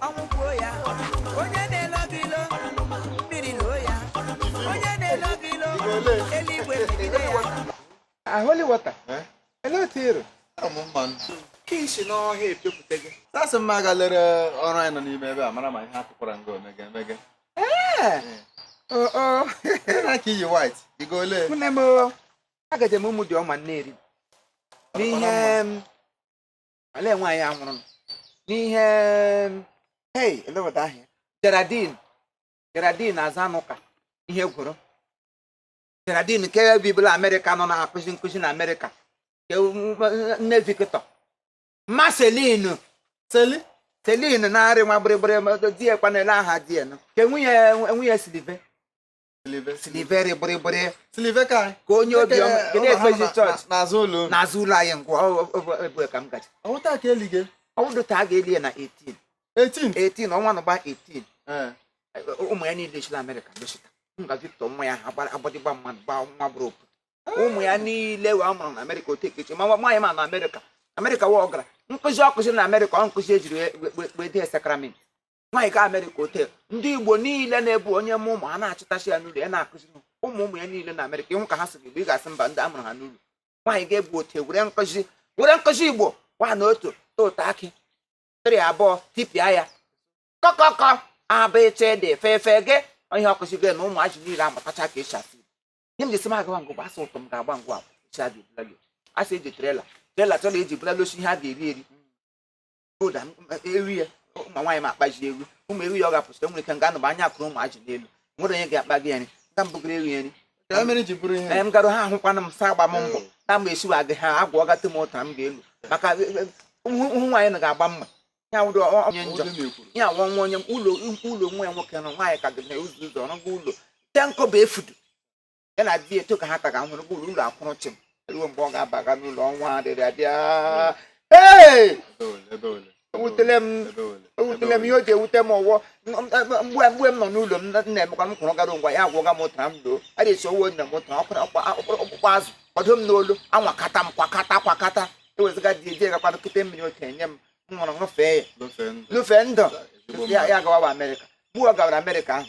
ọnwụ gbuo ya onye na-elo gị ilo mmiri loo ya onye na-elo gị ilo eluigwe megide ya holy water Eh? elee otu ịrụ Ọ mụ mma nụ. ka e si n'ọhịa epepụta gị Sasị m aga lere ọrụ anyị nọ n'ime ebe a mara ma ihe atụkwara nga omege emege. oo Ị na-aka iyi white, ị ga ole? nne m agaje m ụmụ dị ọma nneeri n'ihe m olee nwaanyị a nwụrụ n'ihe hei elee otu aha ya Geraldine Geraldine Azanuka ihe gwụrụ Geraldine nke bibu la Amerịka nọ na-akụzi nkụzi na Amerịka nne Victor mma Celine Celine na-arị nwa gbịrịgbịrị di ya kwanụ elee aha di ya ke nwunye nwunye Silive siliveri gbịrịgbịrị ka onye obi n'azụ ụlọ n'azụ ụlọ anyị ngwa ebe ka m gaji ọ wụ taa ka eli gị ọ wụdị taa a ga-eli ya na 18 18 18 ọnwa nọgba 18 eh. ụmụ ya niile si la amerịka dosita nga victor nwa ya ha agbadịgba mmadụ gba nwa gbụrụ opu ụmụ ya niile wee mụrụ na amerịka otu ekechi ma nwaanyị ma na amerịka amerịka wa ọ gara nkụzi ọ kụziri na amerịka ọ nkụzi e jiri wee dee sacrament nwaanyị gaa amerịka ote ndị igbo niile nọ ebe ahụ onye mụọ ụmụ a na-achịtachi ya n'ụlọ ya na-akụziri ụmụ ụmụ ya niile na amerịka ị hụ ka ha sụrụ igbo ị ga-asị mba ndị a mụrụ ha n'ụlọ nwaanyị ga-ebu ote were nkụzi were nkụzi igbo gwa na otu ụtọ akị tịrị abụọ tipịa ya kọkọkọ a b ch d efe efe gị onye ọkụzi gị na ụmụazị niile amụtacha ka e si asụ ihe m ji sị m agawa ngụ gbasa ụtọ m ga-agba ngwa agwa esi abịa ebulalo a sị e ji trailer trailer trailer e ji bulalosi ihe a ga-eri eri ọ ga eri ya ụmụ nwaanyị ma akpaji eri ụmụ eri ya ọ ga-apụsị nwere ike nga anụba anya akụrụ ụmụ ajị n'elu nwere onye ga-akpa gị nri nga mbụgara eri nri Ka mere ji bụrụ ihe ee m garụ ha ahụkwana m sa agba m mbọ na mgbe esiwa gị ha agwa ọgatụ m ụtara m ga-elu maka ụmụ ụmụ nwaanyị na ga-agba mma ya wụrụ ọ- onye njọ Oge na-ekwuru. ya nwa nwa onye ụlọ ụlọ nwa ya nwoke nọ nwaanyị ka gị na ụzọ ụzọ ọrụgo ụlọ te nkọ bụ efudu ya na di eto ka ha taga nwere ụgbọ ụlọ akwụrụ chịm ruo mgbe ọ ga-abaga n'ụlọ ọnwa dịrị abịa ewutele m ewutele m ihe o ji ewute m ọ wụ mgbe mgbe m nọ n'ụlọ m na-emekwa m kwụrụ gara ngwa ya agwọga m ụtara m doo a ga-esi owo nne m ụtara ọkpụkpụ azụ ọ dụ m n'olu anwakata m kwakata kwakata ewezụga di eji gakwa nkịta mmiri otu enye m m ṅụrụ ṅụfee ya ṅụfee ndụ ya gawa amerịka mgbe ọ gawara amerịka ahụ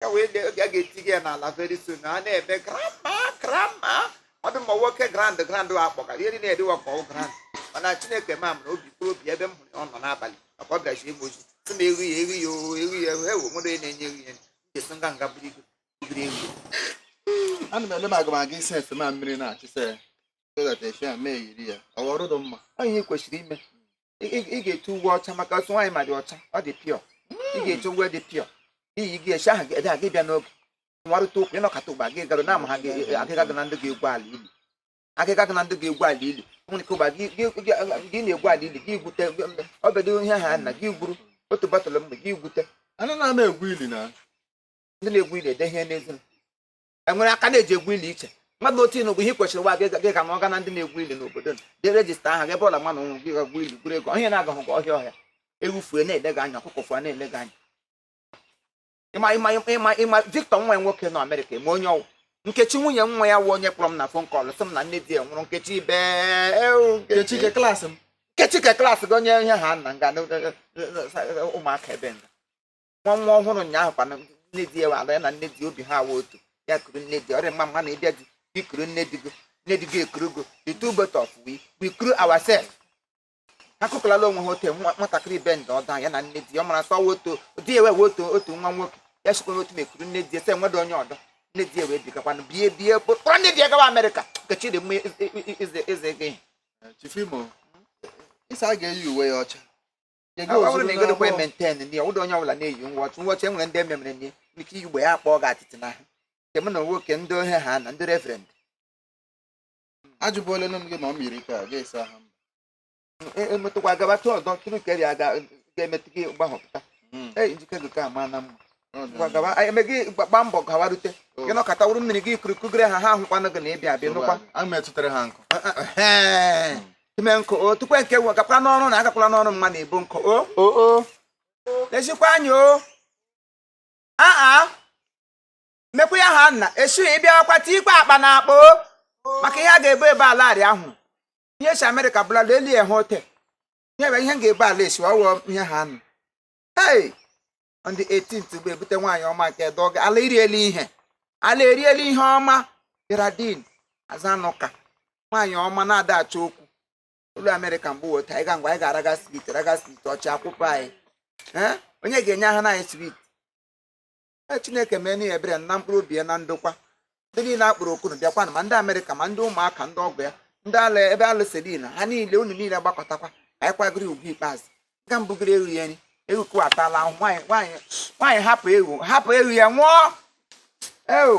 ya wee de oge a ga-eti gị ya n'ala very soon a na-eme grandma grandma ọ dị mma nwoke grand grand a kpọga ihe niile edewa ka ọ wụ grand mana chineke ma mụrụ obi kwuru obi ebe m hụrụ ya ọ nọ n'abalị maka ọ bịara ji egbe oji sị na eri ya eri ya o eri ya o ewu nwere onye na-enye eri ya ga-eso nga nga buru ibu biri eri ya ana m ele m agụmagụ isi efe ma mmiri na-achịsa ya so that efe a mee yiri ya ọ ghọrọ ụdọ mma ọ ihe ị kwesịrị ime ị ga-eti uwe ọcha maka ọ wụ nwaanyị ọma dị ọcha ọ dị pure ị ga-eti uwe dị pure iyi gị echi ahụ ga gị bịa n'oge nwarịta ụkwụ ịnọkọta ụgba gị garo na ama ha agịga gị na ndị ga-egwu ala ili agịga gị na ndị ga-egwu ala ili nwere ike ụgba gị na-egwu ala ili gị gwute ọbedo ihe ha na gị gwuru otu bọtụlụ mgbe gị gwute ndị na-egwu ili ede ihe n'ezi e nwere aka a na-eji egwu ili iche mmadụ otu ịnụ bụ ihe kwesịrị nwa gị ga na ọga na ndị na-egwu ili n'obodo gị register aha gị ebe ọla mmadụ nwụrụ gị gaa gwuo ili gwuru ego onye na-agahụ gị ọhịa ọhịa ewu fue na-ele gị anya ọkụkọ fue na-ele gị anya ịma ịma ịma ịma Victor nwa ya nwoke nọ Amerịka eme onye ọ wụ nkechi nwunye nwa ya wụ onye kpọrọ m na phone call sị m na nne di ya nwụrụ nkechi ibe ewu, nkechi Kechike klaasị m nkechi ka klaasị gị onye ihe ha nna nga na- na- na- na- ụmụaka ebe nga nwa nwa ọhụrụ ụnyaahụ kwana nne di ya wara ya na nne di ya bi ha awa otu ya kuru nne di ọrịa mma mma na ị bịa di gị kuru nne di gị nne di gị ekuru gị the two both of we we kuru ourselves ha kukọlala onwe ha otu nwa nwatakịrị ibe ndị ọda ya na nne di ya ọ mara sọ wa otu di ya wee otu otu nwa nwoke ya sikwa otu ma ekuru nne di ya sị enweda onye ọdọ nne di ya wee bigakwanụ bie bie kpọrọ nne di ya gawa amerịka nkechi dị mma eze gị Chifimo, ị sị a ga-eyi uwe ya ọcha Ọ Jege bụrụ ozuru na ịgodokwa n'abụọ. maintain nne ya ụdọ onye ọbụla na-eyi ngwọchụ ngwọchụ e nwere ndị e memere nye ike iyi uwe ya akpọọ gị atịtị n'ahụ nke ụmụ nwoke ndị ohe ha na ndị reverend Ajụbụla nne m gị ma ọ miri ka ga-esi aha m. E- emetụkwa gaba tụ ọzọ tụrụ ka eri aga ga-emetụ gị gbahọpụta ee njike gị ka ama na mma e mee gị gbaa mbọ gawarute gị nọkọta wụrụ mmiri gị kuru kugere ha ha ahụkwanụ gị na ị bịa abịa nụkwa ime nkụ o tupu nke nwe gakwara n'ọrụ na agakwala n'ọrụ mma na ebu nkụ o o ezikwa anyị o aa mekwa ya ha nna esu ị bịakwa tikwa akpa n'akpa o maka ihe a ga-ebu ebe ala arị ahụ ihe si amerịka bula lelie ha ote ihe bụ ihe m ga-ebu ala esi ọ wụ ihe ha nụ hei on the 18th bụ e bute nwaanyị ọma nke dọga ala eriela ihe ala eriela ihe ọma Geraldine Azanuka nwaanyị ọma na-ada achọ okwu ọ lọ Amerịka mgbe weta anyị ga ngwa anyị ga-araga sweet raga sweet ọchị akwụkwọ anyị Ee, onye ga-enye aha anyị sweet Ee, Chineke mee n'ihi ebere na mkpụrụ obi ya na ndokwa ndị niile a kpọrọ oku unu bịakwanụ ma ndị amerịka ma ndị ụmụaka ndị ọgọ ya ndị ala ebe alụselina ha niile unu niile gbakọtakwa anyị kwagịrị ugwu ikpeazụ nga m bugịrị ewu ya nri ewu kụwatala ahụ nwaanyị nwaanyị nwaanyị hapụ ewu hapụ ewu ya nwụọ ewu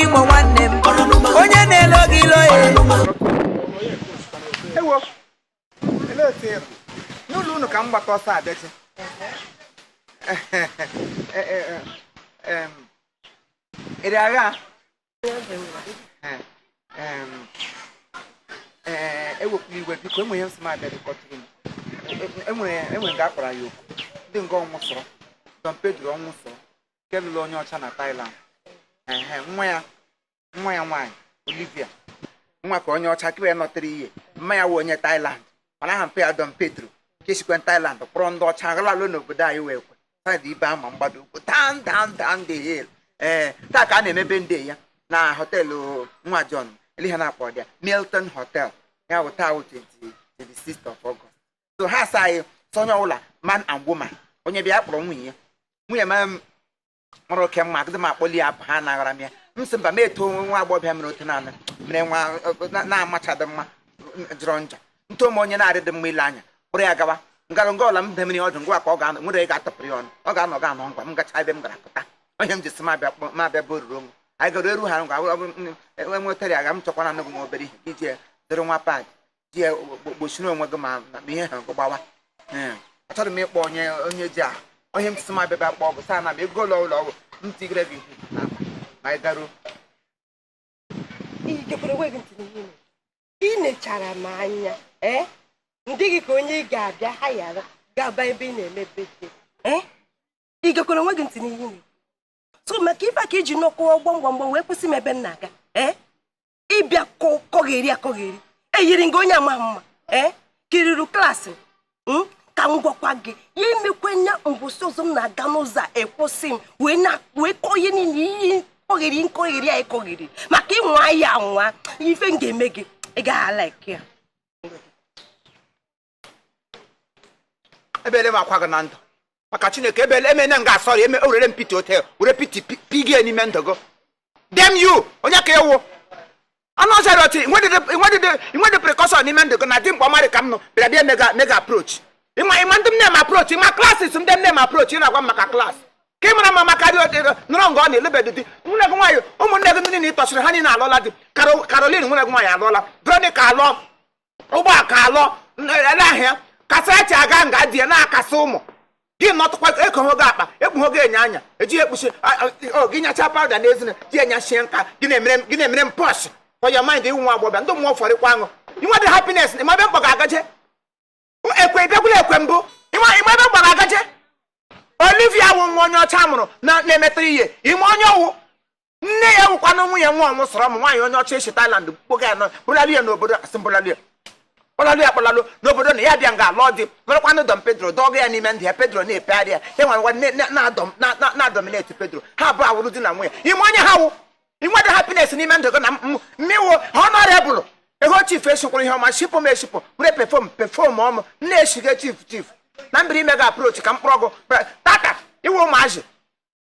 Igbo nwanne m onye na-elo gị ilo ya ewo ele otu ịrụ n'ụlọ unu ka m gbata ọsọ abịachi ịrị agha Eh, em, eh, ewepụla iwe biko enwe ihe m sị m abịa dịkọtụrụ m E- enwere enwere nga akpara ya oku dị nga Ọnwụsọrọ Don Pedro Ọnwụsọrọ nke lụrụ onye ọcha na Thailand ehe nwa ya nwa ya nwaanyị Olivia nwa ka onye ọcha kịrị ya nọtịrị ihe mma ya wụ onye Thailand mana aha mpa ya Don Pedro ka esikwe Thailand kpọrọ ndị ọcha ghalalụ n'obodo anyị wee kwe saịdị ibe ama mgbado ụkwụ down down down the hill ee taa ka a na-eme birthday ya na họteelụ nwa John ele ha na-akpọ dị ya Milton Hotel ya bụ taa 26th of August so ha sị anyị sị onye ọbụla man and woman onye bịa kpọrọ nwunye ya nwunye m mara oke mma agadị m akpọli ya ha anaghara m ya m sị mba m eto nwa agbọghọbịa mere otu naanị mere nwa na-amachadị mma jọrọ njọ ntụ ome onye na-arịdị mma ile anya kpọrọ ya gawa m gara nga ọla m demiri ọdụ ngwa ka ọ ga-anọ nwere ị ga-atọpụrụ ya ọnụ ọ ga-anọ ga anọ ngwa m gacha ebe m gara pụta onye m ji sị m abịa kpọ- m abịa bụ oruru onwe anyị gara eru ha ngwa ọ bụrụ m- enwe nwetara ya ga m chọkwara anụ gị nwa obere ihe ka iji ya dịrị nwa pad ji ya gbo- gbochiri onwe gị ma ma ihe ha gị gbawa Ee, achọrọ m ịkpọ onye onye ji ahụ onye m sị m abịa bịa kpọ ọgwụ saa na m ego ụlọ ụlọ ọgwụ m tigere gị ihe n'akpa ma anyị garuo Ị gekwara onwe gị ntị n'ihe ị na-ekwu. ị nechara m anya ee m dị gị ka onye ị ga-abịa hayara gaba ebe ị na-eme birthday ee ị gekwara onwe gị ntị n'ihe ị so maka ife a ka i ji nọkọọ gbam gbam gbam wee kwụsị m ebe m na-aga ee ị bịa kọgheri akọgheri eyiri m gị onye ama mma ee kiriri klaasị m Hmm? ka m gwakwa gị ya emekwe nya mbọsị ọzọ m na-aga n'ụzọ ị kwụsị m wee na wee kọọ ihe niile ị kọgheri nkọgheri a ị kọgheri maka ị nwaa ya anwa ife m ga-eme gị ị gaghị alaiki ya ebele emekwa gị na ndụ maka chineke ebele emene m ga-asọrị eme ewere m piti ote were piti pigie n'ime ndụ gị damn you onye ka ị wụ anụ ọzọ rịọtị inwedịdị precaution n'ime ndụ gị na di mkpa ọmarị ka m nọ bịara bịa mega mega approach ịma ịma ndị m na-eme approach ị ma classes ndị m na-eme approach ị na-agwa m maka class ka ị mara mma maka dị ọdịrọ nọrọ nga ọ na-alụbedị di nwanne gị nwaanyị ụmụnne gị ndị niile ị tọsịrị ha niile alụọla di Caro- Caroline nwanne gị nwaanyị alụọla Veronica alụọ ụgbọ ka alọ ele ahịa Kasarachi aga nga di ya na-akasị ụmụ gị nọtụkwa ekoho gị akpa ekpuho gị enyo anya eji ekpuchi gị nyacha pawụda n'ezina ji enyachie nka gị na-emere m pọsh for your mind ị wụ nwa agbọbịa ndị mmụọ fọrịkwa aṅụ i nwedị happiness ị ma ebe m kpọ gị agaje ekwe bịakwula ekwe mbụ ị ma ebe m kpọ gị agaje Olivia wụ nwa onye ọcha mụrụ na-emetụrụ ihe ị ma onye ọ wụ nne ya wụkwanụ nwunye nwa ọnwụ sọrọ m nwaanyị onye ọcha esi Thailand kpọga ya bụlalụ ya n'obodo asị mbụlalụ ya kpọlalụ ya kpọlalụ n'obodo na ya bịa nga alụ dị marakwanụ Don Pedro dọga ya n'ime ndị ya Pedro na-epegharị ya ya nwere nwa na-adọmineti Pedro ha abụọ awụrụ di na nwunye ị ma onye ha wụ i nwedị happiness n'ime ndụ gị na mmiwo honorable ego chief esikwara ihe ọma shipụ m eshipụ were perfume perfume ọmụ na-esiga chief chief na mbiri ime ga aprochi ka mkpụrụ ọgụ tata iwe ụmụazị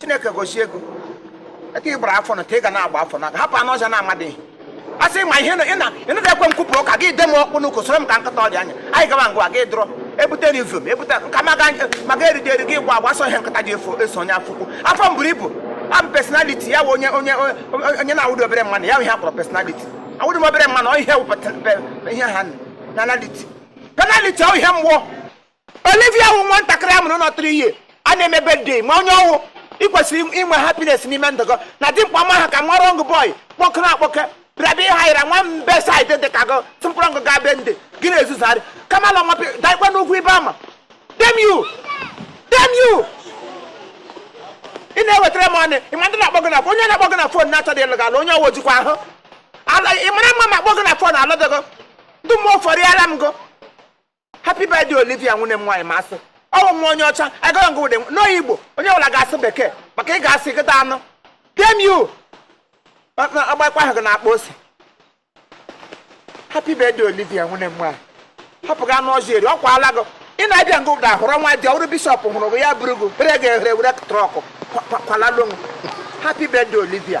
chineke gozie ego eke ị gbara afọ na ka ị ga na-agba afọ na hapụ anụ ọzọ na-amadịghị a sị ma ihe ịnụdị ekwe m kwupụrụ ụka gị de m ọkpụ n'ụkwụ soro m ka nkịta ọdị anya anyị gaba ngwa gị dụrọ ebute na ifom ebute nka maga erite eri gị gwa gbasọ ihe nkịta ji efo eso onye afọ ukwu afọ m buru ibu abụ personality ya bụ onye onye onye na-awụdị obere mmanụ ya bụ ihe a kpọrọ personality awụdị m obere mmanụ ọ ihe wụpụtara ihe ha na penaliti penaliti ọ ihe mgbọ Olivia wụ nwatakịrị a mụrụ nọ 3 years a na-eme birthday ma onye ọ wụ i kwesịrị inwe happiness n'ime ndụ gị na dimkpa ma ha ka nwa wrong boy kpọkere akpọke bịara bịa ịha yara nwa mbe saịdị dị ka gị tụmkpọrọ ngụ gaa be ndị gị na-ezuzarị kama na ọmapị daikwa n'ugwu ibe ama damn you damn you ị na-ewetara m ọnụ ị ma ndị na-akpọ gị na onye na-akpọ gị na fon na-achọdị ịlụ gị ala onye ọ wụ jikwa ahụ ala ị mara mma ma akpọ gị na fon alụdị gị ndị mmụọ fọrịala m gị happy birthday olivia nwunye m nwaanyị ma a sị ọ wụ nwa onye ọcha agara ngụ ụdị n'Igbo onye ọbụla ga-asụ bekee maka ị ga-asị ịgụta anụ damn you ọgbakwa ahụ gị na-akpa ose happy birthday olivia nwunye m nwaanyị hapụ gị anụ ọzọ eri ọ kwaala gị ị na-abịa ngụ ụda hụrụ nwa dị ọrụ bishọp hụrụ gị ya buru gị bere gị ehere were trọkụ kwalalụ happy birthday olivia